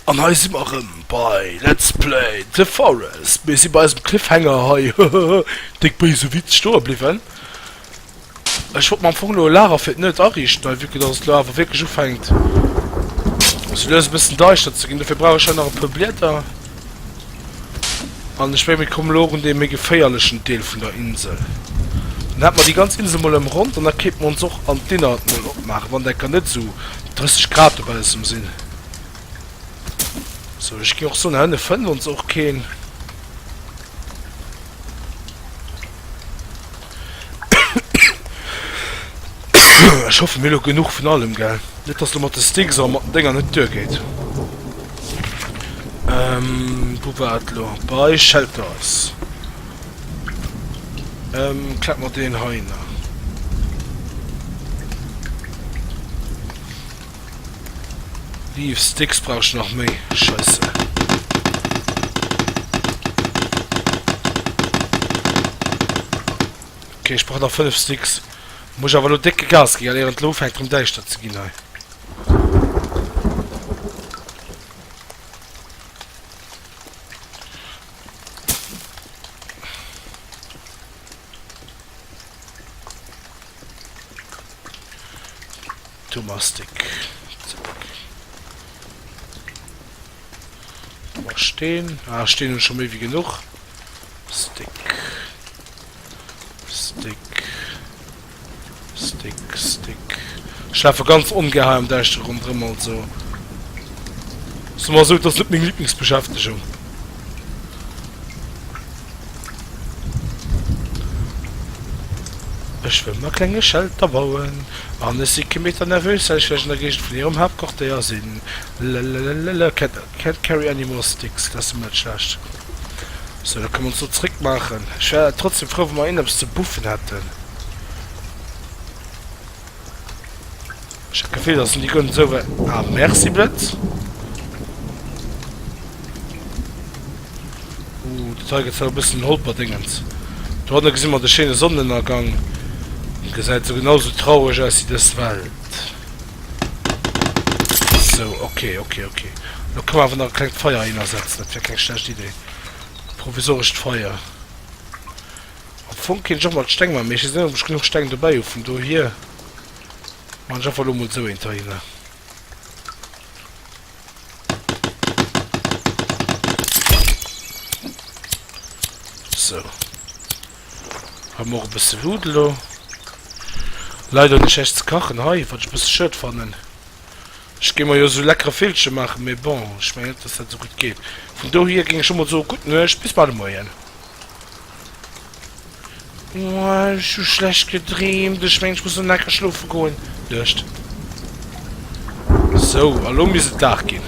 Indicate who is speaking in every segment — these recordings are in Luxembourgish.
Speaker 1: An hei si mer rëm bei Let's Play The Forest. Mir si bei eisem Cliffhanger hei, hehehe, déck béise Witz, stoe bliwwen. Ech wollt mer am Fong elo e Lager fir d'Nëtt ariichten, hei, vue que dass et elo awer wierklech ufänkt sou lues e bëssen deischter ze ginn. Dofir brauch ech hei nach e puer Blieder. An ech menge mir kommen elo och un dee méi geféierlechen Deel vun der Insel. Dann hätte mer déi ganz Insel mol ëmronnt an da kéinte mer ons och an d'Innert mol opmaachen, wann d'Ecker net esou 30 Grad dobaussen sinn. Sou, ech géing och soen, hei ënne fënnt ons och keen. Ech hoffen mir elo genuch vun allem gell. Net dass lo mat de Sticks a mat den Dénger net duer geet. Ähm wou war et lo? Bei Shelters. Ähm klack mer deen hei nach. Beef Sticks brauch ech nach méi, scheisse. Ok, ech brauch nach 5 Sticks. Muss ech awer elo décke Gas ginn, ier et elo ufänkt rëm däischter ze ginn hei. Thomastik zeréck. Boah, Steen. Ah, Steen hunn ech scho méi wéi genuch. Stick. Stick. Stick, Stick. Ech lafe ganz ongaer am Däischtere rondrëm, also soe mer esou, et ass net meng Liblingsbeschäftegung. Ech wëll mer klenge Schelter bauen an ech si kee Meter nervös well ech vläicht an der Géigend vun hirem Haaptquartéier sinn lalalalalala Cat carry any more sticks dat ass ëmmer dat schlecht sou da kënne mer ons elo zréck maachen ech wär trotzdem frou wa mer een eppes ze buffen hätten. Ech hat d'Gefill dass en déi gönnt esou wei ah merci Blëtz. Ooh dat hei gëtt zwar e bëssen holperdéngens. Dohanne gesi mer de schéine Sonnenënnergang. En gesäit esou genau esou traureg aus wéi dës Welt. Sou ok ok ok. Lo ka mer awer nach e klengt Feier hinner setzen, dat wär keng schlecht Idee. E provisorescht Feier. Am Fong kéint ech och mol d'Steng man, mee ech wees net op ech genuch Steng dobäi hu, vun dohier man ech einfach lo mol sou eent heihinner. Sou, hei hu mer och e bësse Luut elo. Leider hunn ech näischt ze kachen hei, wat ech e bësse schued fannen. Ech géing mer jo sou leckere Villche maachen, mee bon, ech mengen net dass dat sou gutt geet. Vun dohier géing ech lo mol soe, gutt Nuecht, bis bal de Moien. Ech hu schlecht gedreemt. Ech mengen, ech muss elo necker schlofe goen. Nuecht. Sou, a lo misst et Dag ginn.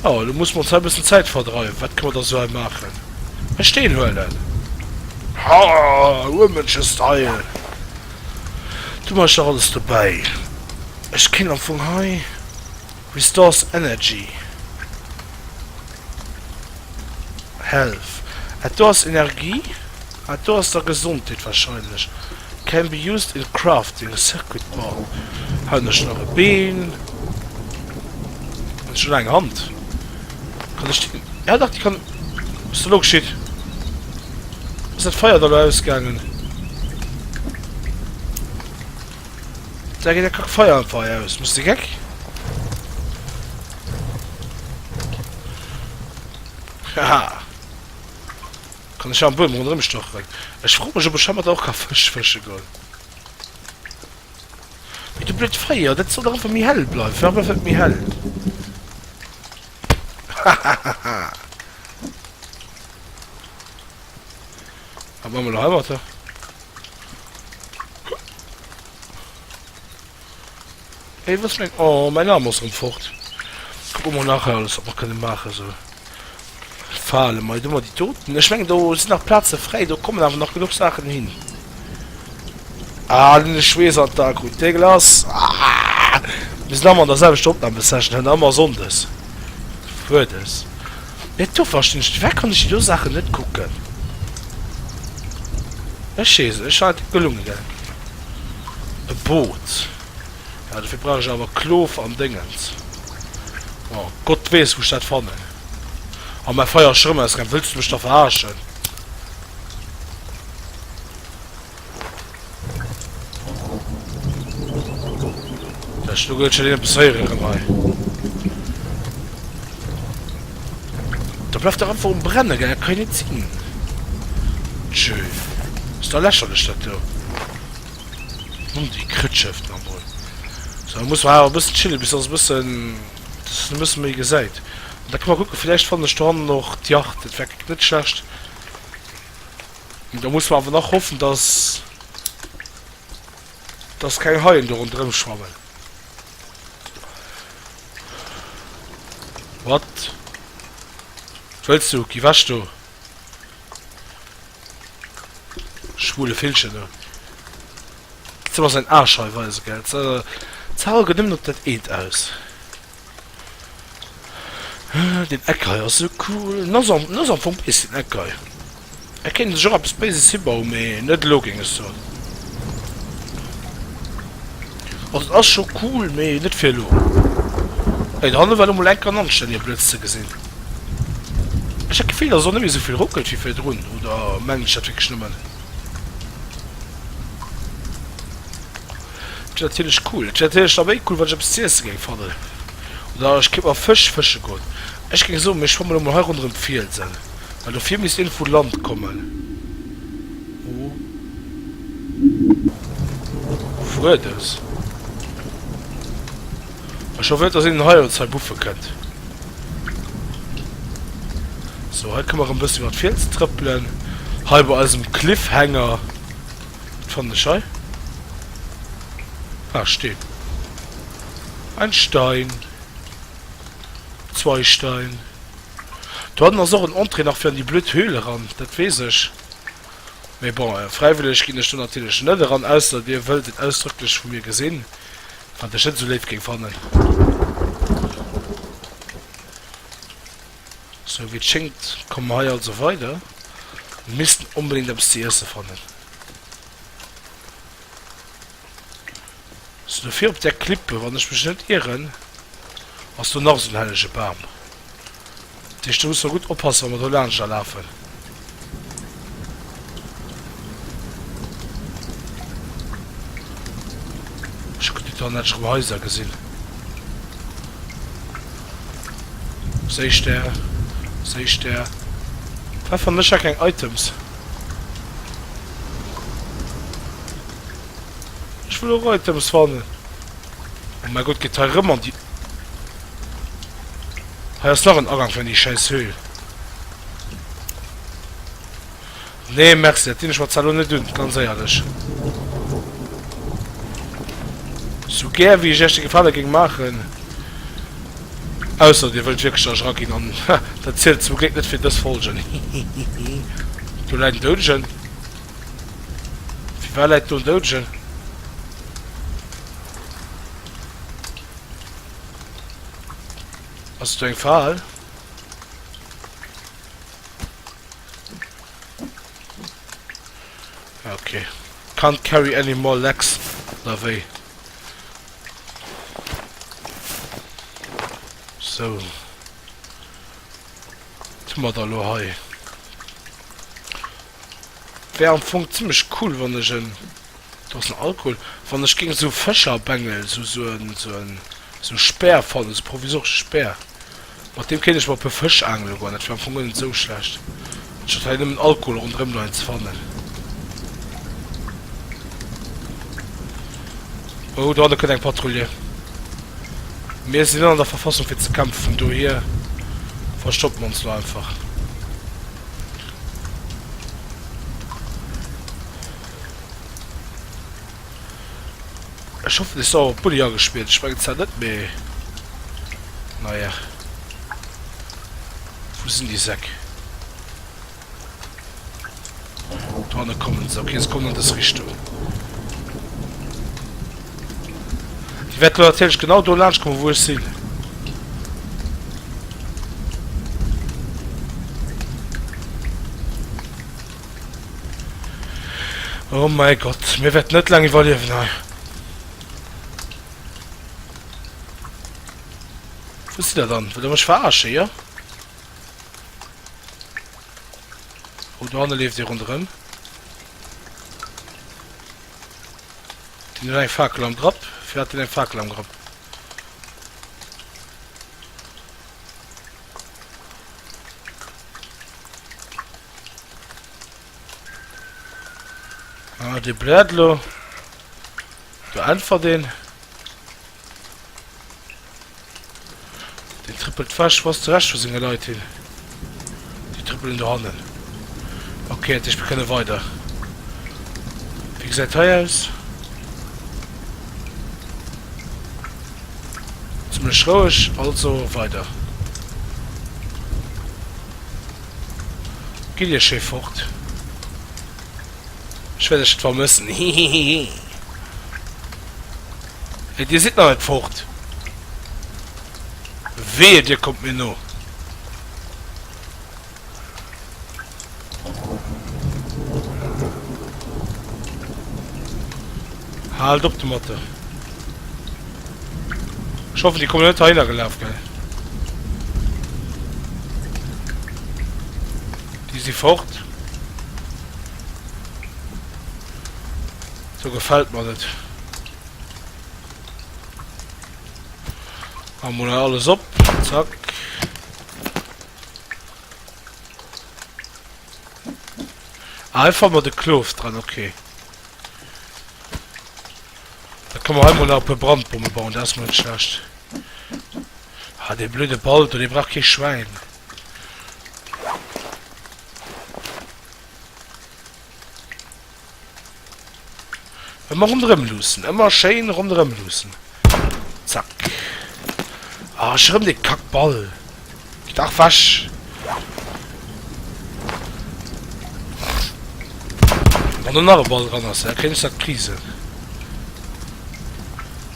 Speaker 1: Jo, elo musse mer ons hei e bëssen Zäit verdreiwen. Wat ka mer da sou hei maachen? E Steen huelen. Hahh, Urmënschestyle! Du, mer ech nach alles dobäi. Ech kéint am Fong hei. Restores energy health, et do ass Energie, et do ass da Gesondheet wahrscheinlech, can be used in crafting circuit board, haut ech nach e Been, ech hun eng Hand, kann ech déi, ja dach déi kann, was ass da lo geschitt, ass dat Feier da lo ausgaangen? Da geet eng Kack Feier am Feier aus. Bist de geck? Haha. Kann ech am Buem rondrëm stocheren. Ech fro mech, ob ech heimat och ka Fësch fësche goen. Mee du blöd Feier, dat soll dach einfach méi hell bleiwen. Fir ewech méi hell. Hahahaha. Wat man elo heimat? Hey, was mein... Oh, mein Arm ass rem fort. Kucken mer nachher alles, wat mer kënnen maachen, sou. Fale mei do mei déi Toten. Ech mengen, do sinn nach Plaze fräi, do kommen awer nach genuch Saachen hin. Ah, den Schweess an d'A krut. Dee Glas! Mir sinn ëmmer an der selwechter Opnamesession, hei ëmmer Sonndes. Fuerdes. Mee dofir stin ech, dofir kann ech déi do Saachen net kucken. Ech sees ech hat e gelungenen e Boot, mä dofir brauch ech awer Klof an Déngens. Jo, Gott weess wou ech dat fannen. A mäi Feier ass scho rëm ausgaang, wëlls du mech da veraarschen? Ech lo gëllt schonn eppes héieren hei. Da bleift dach einfach um Brennen, gell? Dat kann jo net sinn. Jö. Ass da lächerlech dat do. Mann, déi Krëtscheft nach emol. So, da muss mer awer e bëssen chillen, bis dass e bëssen, dass een e bësse méi gesäit. Da ka mer kucken, villäicht fannen ech dohannen och d'Yacht. Dat wär net schlecht. Da muss mer awer nach hoffen, dass dass keng Haien do rondrëm schwammen. Wat wëlls du? Gi wech do, schwule Villchen du! Ze mer säin Aarsch hei weisen, gell? Ze hal gëtt nëmmen op dat eent aus. Deen Eck hei ass esou cool. En ass am, en ass am Fong bees, deen Eck hei. Hei kéint ee sech och eppes Béises hibauen, mee net elo, géing ech soen. Also, et ass scho cool, mee net fir elo. Hei dohanne war lo mol enk en anstännige Blëtz ze gesinn. Ech hat d'Gefill, dass et och net méi esou vill ruckelt wéi virdrun, oder mengen ech dat wierklech nëmmen? Dat wier natierlech cool. Dat wier natierlech da méi cool, wann ech eppes ze iesse géing fannen. Oder ech kéint mer Fësch fësche goen. Ech géing soen, mir schwamme lo mol hei ronderëm d'Fielsen. Mä dofir misst een vu Land kommen. Hu Wuerdes. Ech hoffen net, datt een hei ons hei buffe kënnt. Sou, hei kënne mer erëm e bëssi iwwer d'Fielsen trëppelen. Hei bei eisem Cliffhanger. D'fann ech hei. Ah Steen. Ein Stein. Zwei Stein. Do hannen ass och en Entrée nach fir an déi blöd Höhle eran, dat weess ech. Mee bon, fräiwëlleg ginn ech do natierlech net eran, ausser Dir wëllt et ausdrëcklech vu mir gesinn, wat ech net esou léif géing fannen. Sou wéi et schéngt komme mer hei also weider. Mir missten onbedéngt eppes ze iesse fannen. Sou do vir op där Klippe, wann ech mech net ieren, ass do nach esou en hellege Bam. Dat heescht do musse mer gutt oppassen, wa mer do laanscht da lafen. Ech hunn déi Toilette schonn heiser gesinn. Séich der, séich der. Hei fannen ech ja keng Items. Ech wëll och Items fannen. Oh mäi Gott, geet hei rëm an déi. Hei ass nach en Agank fir an déi schäiss Höhl. Nee merci, dat dinn ech mer zwar elo net un, ganz éierlech. Sou gär wéi ech iech de Gefale géing maachen, ausser dir wëllt wierklech da eraginn, an dat zielt zum Gléck net fir dës Folge, hihihi. Do läit en Doudegen. Firwat läit do en Doudegen? Ass do eng Fal? Ah, okay. Can't carry any more legs, oder wéi? So. Was hu mer da lo hei? Wär am Fong zimmlech cool, wann ech en... Dosen Alkohol wann ech géing sou Fëscherbengel sou sou en sou en sou Speer fannen, sou provisoresche Speer mat deem kéint ech mol e puer Fësch aangele goen, dat wär am Fong guer net sou schlecht anstatt hei nëmmen Alkohol ronderëm no engem ze fannen. Oh do hanne kënnt eng Patrouille. Mir sinn net an der Verfassung fir ze kämpfen, vun dohier verstoppen mer ons lo einfach. Ech hoffen ech soll op Bulli agespillt, ech mengen zwar net mee naja. Wou sinn déi Säck? Do hanne kommen se, okay se kommen an dës Richtung. Déi wäert elo natierlech genau do laanscht kommen wou ech sinn. Oh mäi Gott, mir wäerten net laang iwwerliewen hei. Wou sidd der dann? Wëllt der mech verarschen, jo? Oh, do hanne leeft ee ronderëm. Deen huet eng Fakel am Grapp. Firwat hat deen eng Fakel am Grapp? Ah, de bläert lo. Du äntwert den. Den trippelt wäsch, was de Recht vu senge Leit hin. Die trippelen do hannen. Okay, ich bekenne weiter. Wie gesäit hei aus? Ziemlech roueg, also weiter. Gitt Dir schéi fort, ech wäert Iech vermëssen, hihihihi. Et, Dir sidd nach net fort? Wehe Dir kommt mir no! Haalt op domat! Ech hoffen déi kommen net heihinner gelaf gell. Déi si fort. So gefällt mer net. Machen wir mal alles op. Zack. Einfach mal den Klof dran, okay. Da kann mer hei mol nach e puer Brandbomme bauen, dat ass mol net schlecht. Ah, dee blöde Ball do, dee brauch kee Schwäin. Ëmmer ronderëm luussen, ëmmer schéin ronderëm luussen. Zack. Ah, erëm dee Kackball. Gitt dach wech! Wann do nach e Ball dran ass, da kréien ech dat Prisen.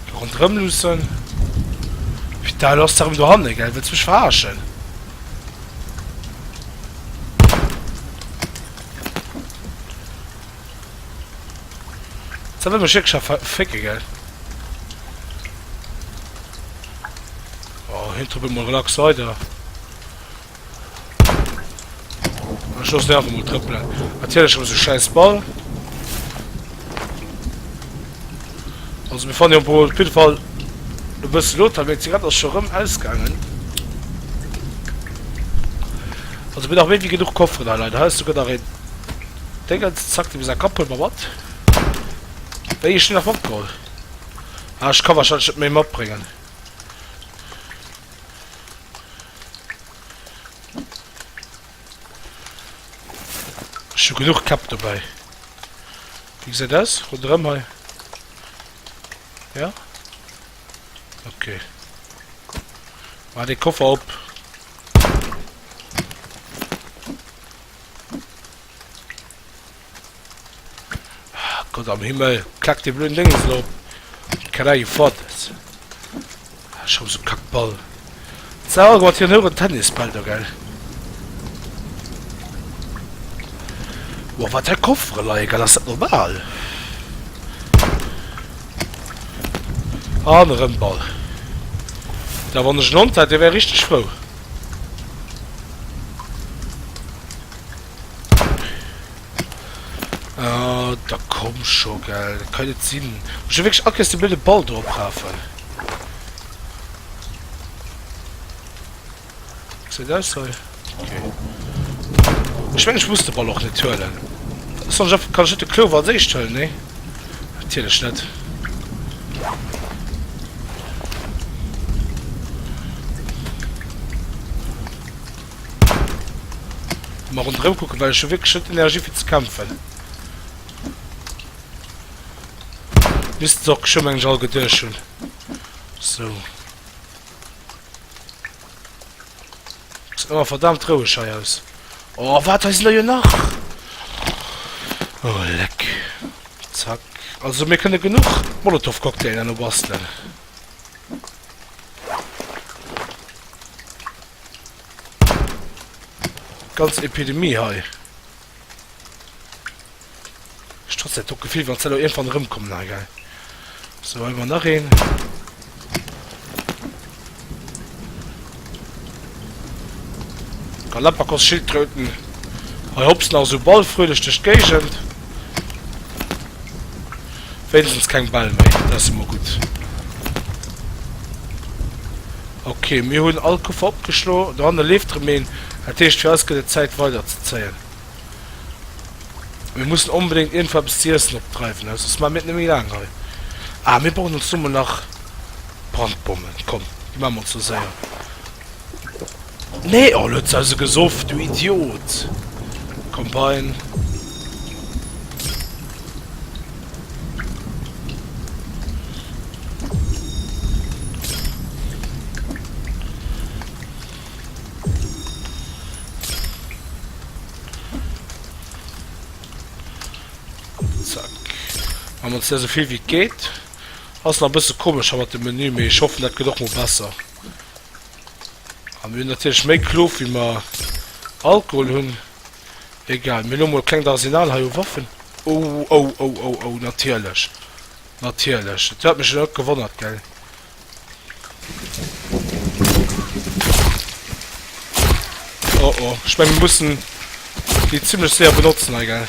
Speaker 1: Do ronderëm luussen. Pita, du ass dach erëm dohanne, gell? Wëlls mech verarschen? Sa wëll mech wierklech a ver fécke, gell? Oh, hien trëppelt mol relax weider. Ech loss den einfach mol trëppelen. Natierlech schon so scheiß Ball. Also mir fannen jo wohl op jeden Fall e bëssen Lothar, meng Zigarette ass scho rëm ausgaangen. Also mir nach méi wie genug Kofferen hei, Leute. Hei ass sogar nach een Dingens. Zack, dem sein Kapp huele mer mat. Wéi, ech hunn nach matgeholl. Ah, ech ka wahrscheinlech net méi matbréngen. Ech hu genuch Käpp dobäi. Wéi gesäit aus ronderëm hei? Ja? Ok. Mar de Koffer op. Gott am Himmel, klack dee blöden Déngens lo op! Can I afford this? Ah, schon sou kack Ball. Sou, guck mal, hien huet en Tennisball do, gell? Wow, wat hei Koffere leien, gell? Ass dat normal? An erëm Ball. Da wann ech en Hond hätt, dee wär richteg frou. Ah, da komm scho, gell. Dat kann net sinn. Muss ech wierklech all Kéiers de blöde Ball do oprafen? Gesäit aus hei. Okay. Ech meng, ech muss de Ball och net huelen. Soll ech einfach, kann ech net de Klower als éischt huelen? Nee, natierlech net. Mol rondrëm kucken, well ech hu wierklech net d'Energie fir ze kämpfen. Missten se och geschwë meng ech all geduecht hunn. So. Gesäit awer verdammt roueg hei aus. Oh, wat, hei sinn der jo nach! Oh, leck. Zack. Also mir kënne genuch Molotow-Cocktailen no bastelen. Ganz Epidemie hei. Ech trotz dat Gefill wann ze eng van rëm kommen ha gei so man nach een Galapagos Schildkröten hei hops nach so ball fröhlich durch Gegend. Wéinstens keng Bäll méi, dat ass ëmmer gutt. Ok, mir hunn all Kuffer opgeschlo. Dohanne leeft erëm een. Dat heescht, fir eis gëtt et Zäit weiderzezéien. Mir mussen onbedéngt iergendwou eppes ze iessen opdreiwen, well soss maache mir et net méi laang hei. Ah, mir brauchen ons domo nach Brandbommen. Komm, déi maache mer ons lo séier. Nee, oh lo huet se eise gesoff, du Idiot! Komm Bein. An dat se vill wéi et geet ass nach bësse komesch ha mat dem Menü, mee ech hoffen dat gëtt och mol besser. A mir hunn natierlech méi Klof, wéi mer Alkohol hunn. Egal, mir hunn emol e klengt Arsenal hei u Waffen. Oh, oh, oh, oh, oh, natierlech, natierlech. Et huet mech elo net gewonnert, gell. Oh, oh, ech menge mir mussen déi zimmlech séier benotzen hei, gell.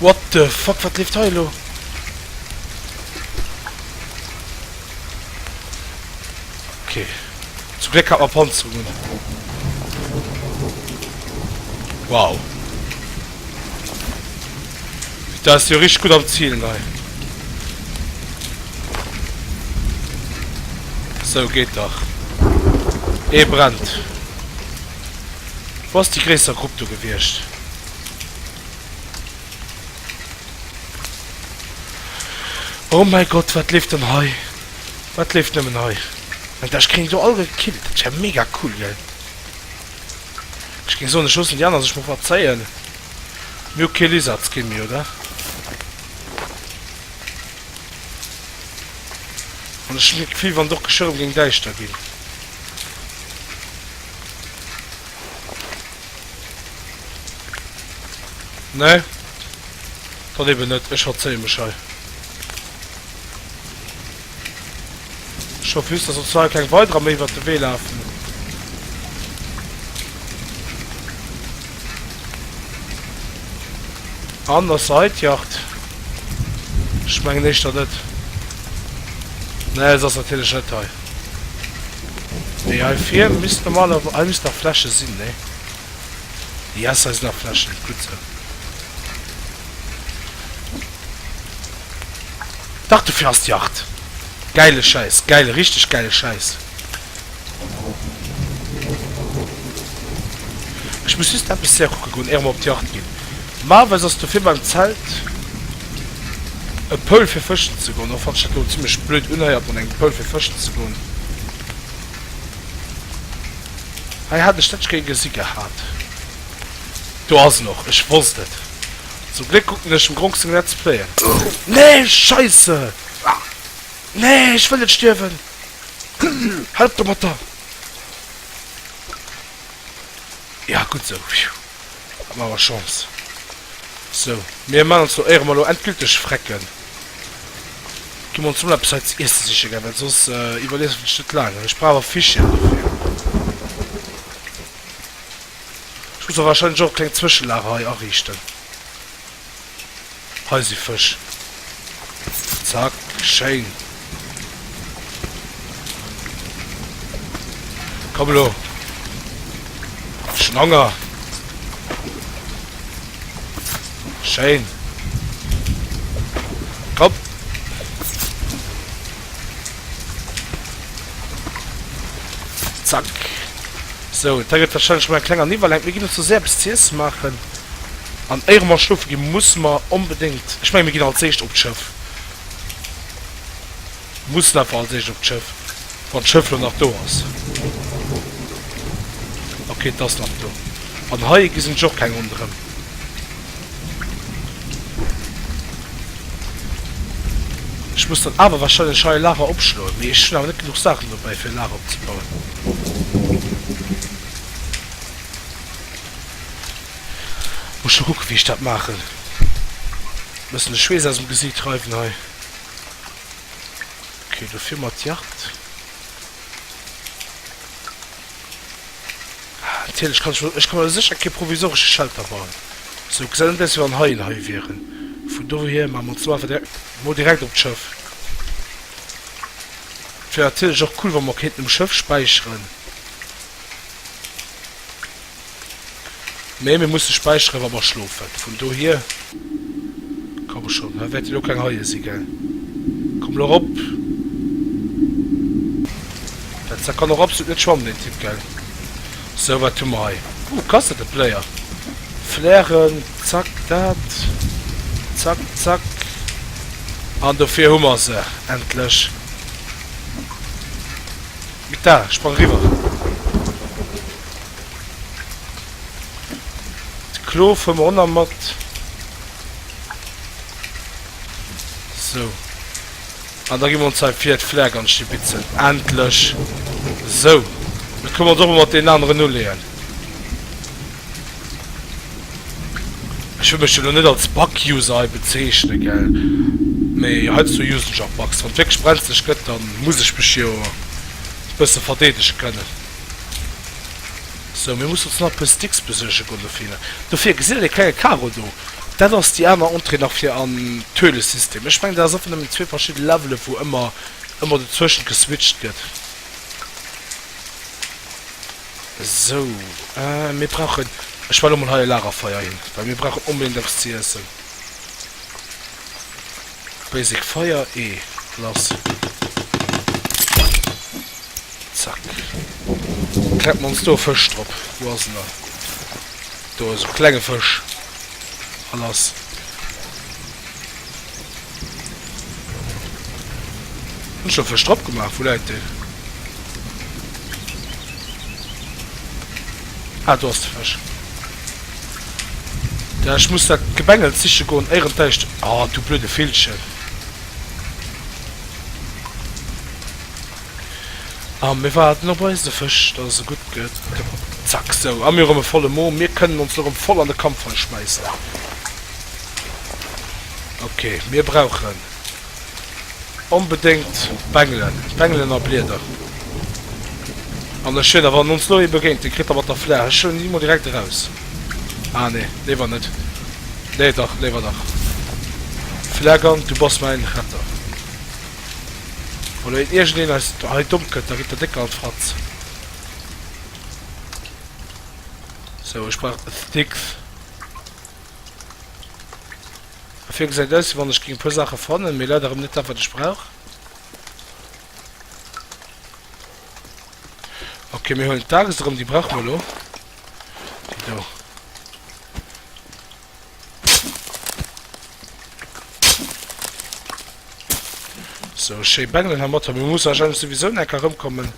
Speaker 1: What the fuck, wat leeft hei elo? Ok, zum Gléck hat mer Panzerung un. Wow. Daat ass jo richteg gudd am zielen hei. Sou, geet dach. Ee brennt. Wou ass déi gréisser Grupp do gewiescht? Oh mäi Gott, wat leeft dann hei? Wat leeft nëmmen hei? Mä ech kritt déi do all gekillt. Dat ass ja mega cool, gell? Ech géing soen, ech loossen déi aner sech mol verzéien. Mir hu kee Lizardskin méi, oder? An ech hunn d'Gefill, wann et och geschwë rëm géing däischter ginn. Nee, dann eben net. Ech verzéie mech hei. Scho wüsst, dass op zwar keng weiderer méi iwwert de Wee lafen. An ass se hei d'Jacht? Ech mengen éischter net. Nee, se ass natierlech net hei. Déi hei vir misst normalerweis, hei misst nach Fläschen sinn, nee? Yes, hei sinn nach Fläschen, gutt esou. Dach, dofir ass d'Yacht. Gäile Schäiss, gäile, richteg gäile Schäiss. Ech muss just eppes hier kucke goen, éier mer op d'Yacht ginn. Normalerweis ass dofir beim Zelt. e Poul fir fëschen ze goen, och wann ech dat elo zimlech blöd unhéiert mat engem Poul fir fëschen ze goen. Hei hat ech dat ech géi gesi gehat. Do ass en och, ech wosst et. Zum Gléck kucken ech dem Gronk seng Let's Playen. Nee, Scheisse! Nee, ech wëll net stierwen! Hal op domatter! Jo, gutt esou. Am awer Chance. Sou, mir man ons do éierem elo endgülteg Frecken. Gi mer ons mol eppes hei ze iessen sichen gell, well soss iwwerliewen ech net laang. Ech brauch awer Fischchen dofir. Ech muss mer wahrscheinlech och e klengt Zwëschelager hei ariichten. Hei si Fësch. Zack, wéi schéin. Komm elo, ech hunn Honger. Schéin. Komm. Zack. Sou, da gëtt wahrscheinlech mol eng kleng an iwwerlenkt. Mir ginn elo zesummen eppes z'iessen maachen an éiere mer schlofe gi musse mer onbedéngt, ech menge mir ginn als éischt op d'Schëff, mussen einfach als éischt op d'Schëff, wann d'Schëff elo nach do ass. Ok, et ass nach do. An hei gesi sech och keng ronderëm. Ech muss dann awer wahrscheinlech hei e Lager opschloen, mee ech hunn awer net genuch Saachen dobäi fir e Lager opzebauen. Muss ech mol kucken wéi ech dat maachen. Bëssen de Schweess aus dem Gesiit reiwen hei. Ok, dofir mer d'Jagd. Natierlech kann ech elo, ech ka mer sécher kee provisoresche Shelter bauen. Sou gesäit et aus wéi wann Haien hei wieren. Vun dohier maache mer ons elo einfach direkt emol direkt op d'Schëff. Et wier natierlech och cool wa mer kéinten um Schëff späicheren. Mee mir musse späicheren wa mer schlofen, vun dohier. Komm schonn, hei wäert dir elo keng Haie si gell. Komm elo erop. Dat Sack kann och absolut net schwammen den Typ gell. Sou wat hu mer hei? Ooh Cassette Player, Flären, zack dat, zack zack an dofir hu mer se endlech. Mita, sprang eriwwer. D'Klo fuer mer ronner mat. Sou. An da gi mer ons hei vir d'Flär ganz stibitzen. Endlech. Sou. Da kënne mer ons och mol mat deenen aneren uleeën. Ech wëll mech jo elo net als Bug-User hei bezeechnen, gell? Mee heiansdo usen ech och Bugs. Wann et wierklech brenzlech gëtt, da muss ech mech jo e bësse verdeedege kënnen. Sou, mir mussen ons nach eppes Dicks besuerge goen dofir. Dofir, gesitt Der dee klenge Karo do? Dat ass déi aner Entrée nach fir an d'Höhlesystem. Ech mengen, dat ass einfach nëmmen zwee verschidde Levelen, wou ëmmer, ëmmer dozwëschent geswitcht gëtt. Sou, mir brauchen, ech well emol hei e Lagerfeier hin, well mir brauchen onbedéngt eppes ze iessen. Basic Feier E lass. Zack. Kleppen ons do e Fësch drop. Wou ass en dann? Do, esou klenge Fësch. A lass. Hunn ech do e Fësch drop gemaach? Wou läit deen? Ah, do ass de Fësch. Ja ech muss dat Gebengels siche goen éieren d'Däischtert. Oh du blöde Villchen. A mir waarden op eise Fësch, dass se gutt gëtt. Zack sou. A mir hu rëm e volle Mo. Mir kënnen ons elo rëm voll an de Kampfei schmäissen. Ok mir brauchen. Onbedéngt d'Bengelen, d'Bengelen a Blieder. An ech wéiler, wann ons lo ee begéint, dee kritt der mat der Flaach. Ech huelen déi mol direkt eraus. Ah nee, léiwer net. Nee dach, léiwer dach. Flagang, du bass mäin Retter. Wa lo iergendeen eis hei domm kënnt, da kritt der déck an d'Fratz. Sou, ech brauch Sticks. Fir gesäit aus wéi wann ech géing e puer Saache fannen, mee leider rem net dat wat ech brauch. Ok mir huelen d'Axt erem, déi brauche mer elo, déi do. Sou schéi bengelen hermatter, mir musse wahrscheinlech souwisou nach enker remkommen.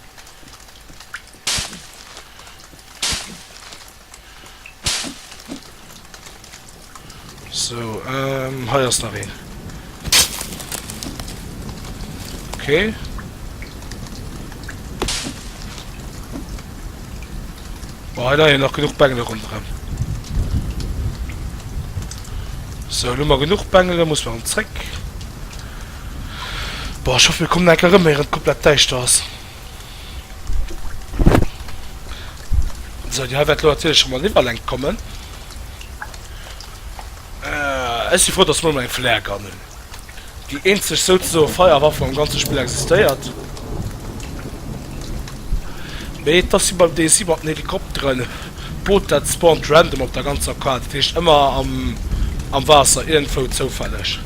Speaker 1: So, ähm, hei ass nach een. Okay. Boah, hei leien nach genug Bengele rondrem. So, lo mal genug Bengele, muss man zréck. Boah, ich hoffe, wir kommen enke rëm, ehe et komplett däischter ass. So, Dir wäert lo natierlech schon mal iwwerlenkt kommen. Äh, ech si frou, dass mer elo eng Flare Gun hunn. Déi eenzeg souzesoe Feierwaff am ganze Spill existéiert. Mee et ass wéi beim DSI mat den Helikopteren, d'Boot dat spawnt random op der ganzer Kaart, dat heescht ëmmer am, am Waasser, iergendwou zoufälleg.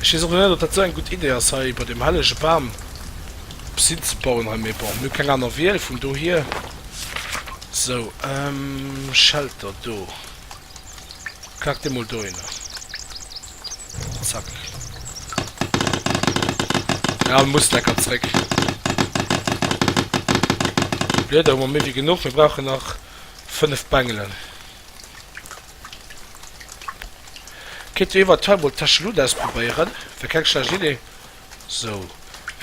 Speaker 1: Ech wees och net op dat sou eng gudd Idee ass hei iwwert dem hellege Baam eppes hin ze bauen hei, mee bon mir hu keng aaner Wiel vun dohier. Sou ehm Shelter do, klack dee mol dohinner, zack. Jo en muss lecker zréck. Blieder hu mer méi wéi genuch, mir brauchen nach 5 Bengelen. Kéint jo eventuell mol Techelun ausprobéieren, wär keng schlecht Idee. Sou,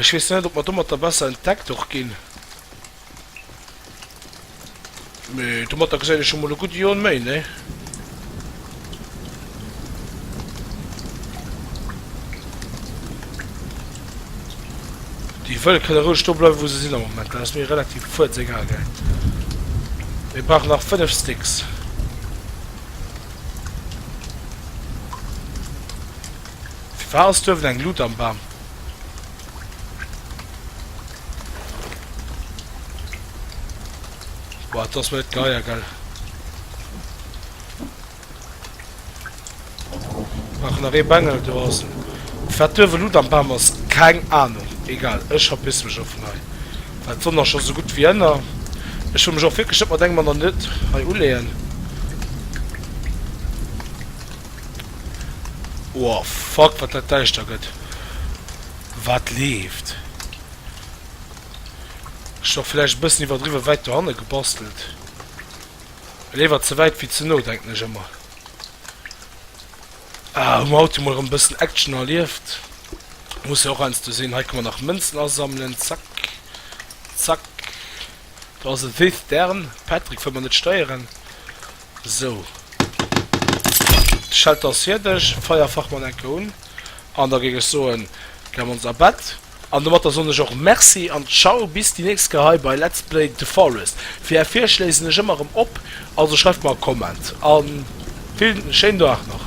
Speaker 1: ech weess net ob mer domatter besser entdeckt och ginn, mee domatter geséit ech scho mol e gudde Joen méi, nee? Déi wëll kënne roueg do bleiwen, wou se sinn am Moment. Dat ass mir relativ fuerzegal, gell. Mir brauchen nach fënnef Sticks. Firwat ass duerwen eng Lut am Bam? Boah, dat ass mir net geier, gell. Maachen nach ee Bengel, do ass en. Wat duerf elo dann Bam ass, keng Ahnung. Egal, ech verpissen mech och vun hei, well d'Sonn ass scho sou gutt wéi ënner. Ech wëll mech och wierklech net mat engem aneren Nit hei uleeën. Oh fuck, wat dat däischter gëtt. Wat leeft? Ech hu och vläicht e bëssen iwwerdriwwe wäit dohanne gebastelt. Léiwer ze wäit wéi ze no, denken ech ëmmer. Ah, hu mer haut jo mol erëm e bëssen Action erlieft. Muss jo och heiansdo sinn. Hei kënne mer nach Mënzen asammelen. Zack. Zack. Do ass e Cithern. Patrick wëll mer net steieren. Sou. D'Schelter ass fierdeg. Feierfachmann, enke un. An da géing ech soen, gär mer ons a Bett. An domatter soen ech och Merci an Ciao bis déi nächst Kéier hei bei Let's Play The Forest. Fir är Virschléi sinn ech ëmmer erëm op, also schreift mer e Comment a villen schéinen Dag nach.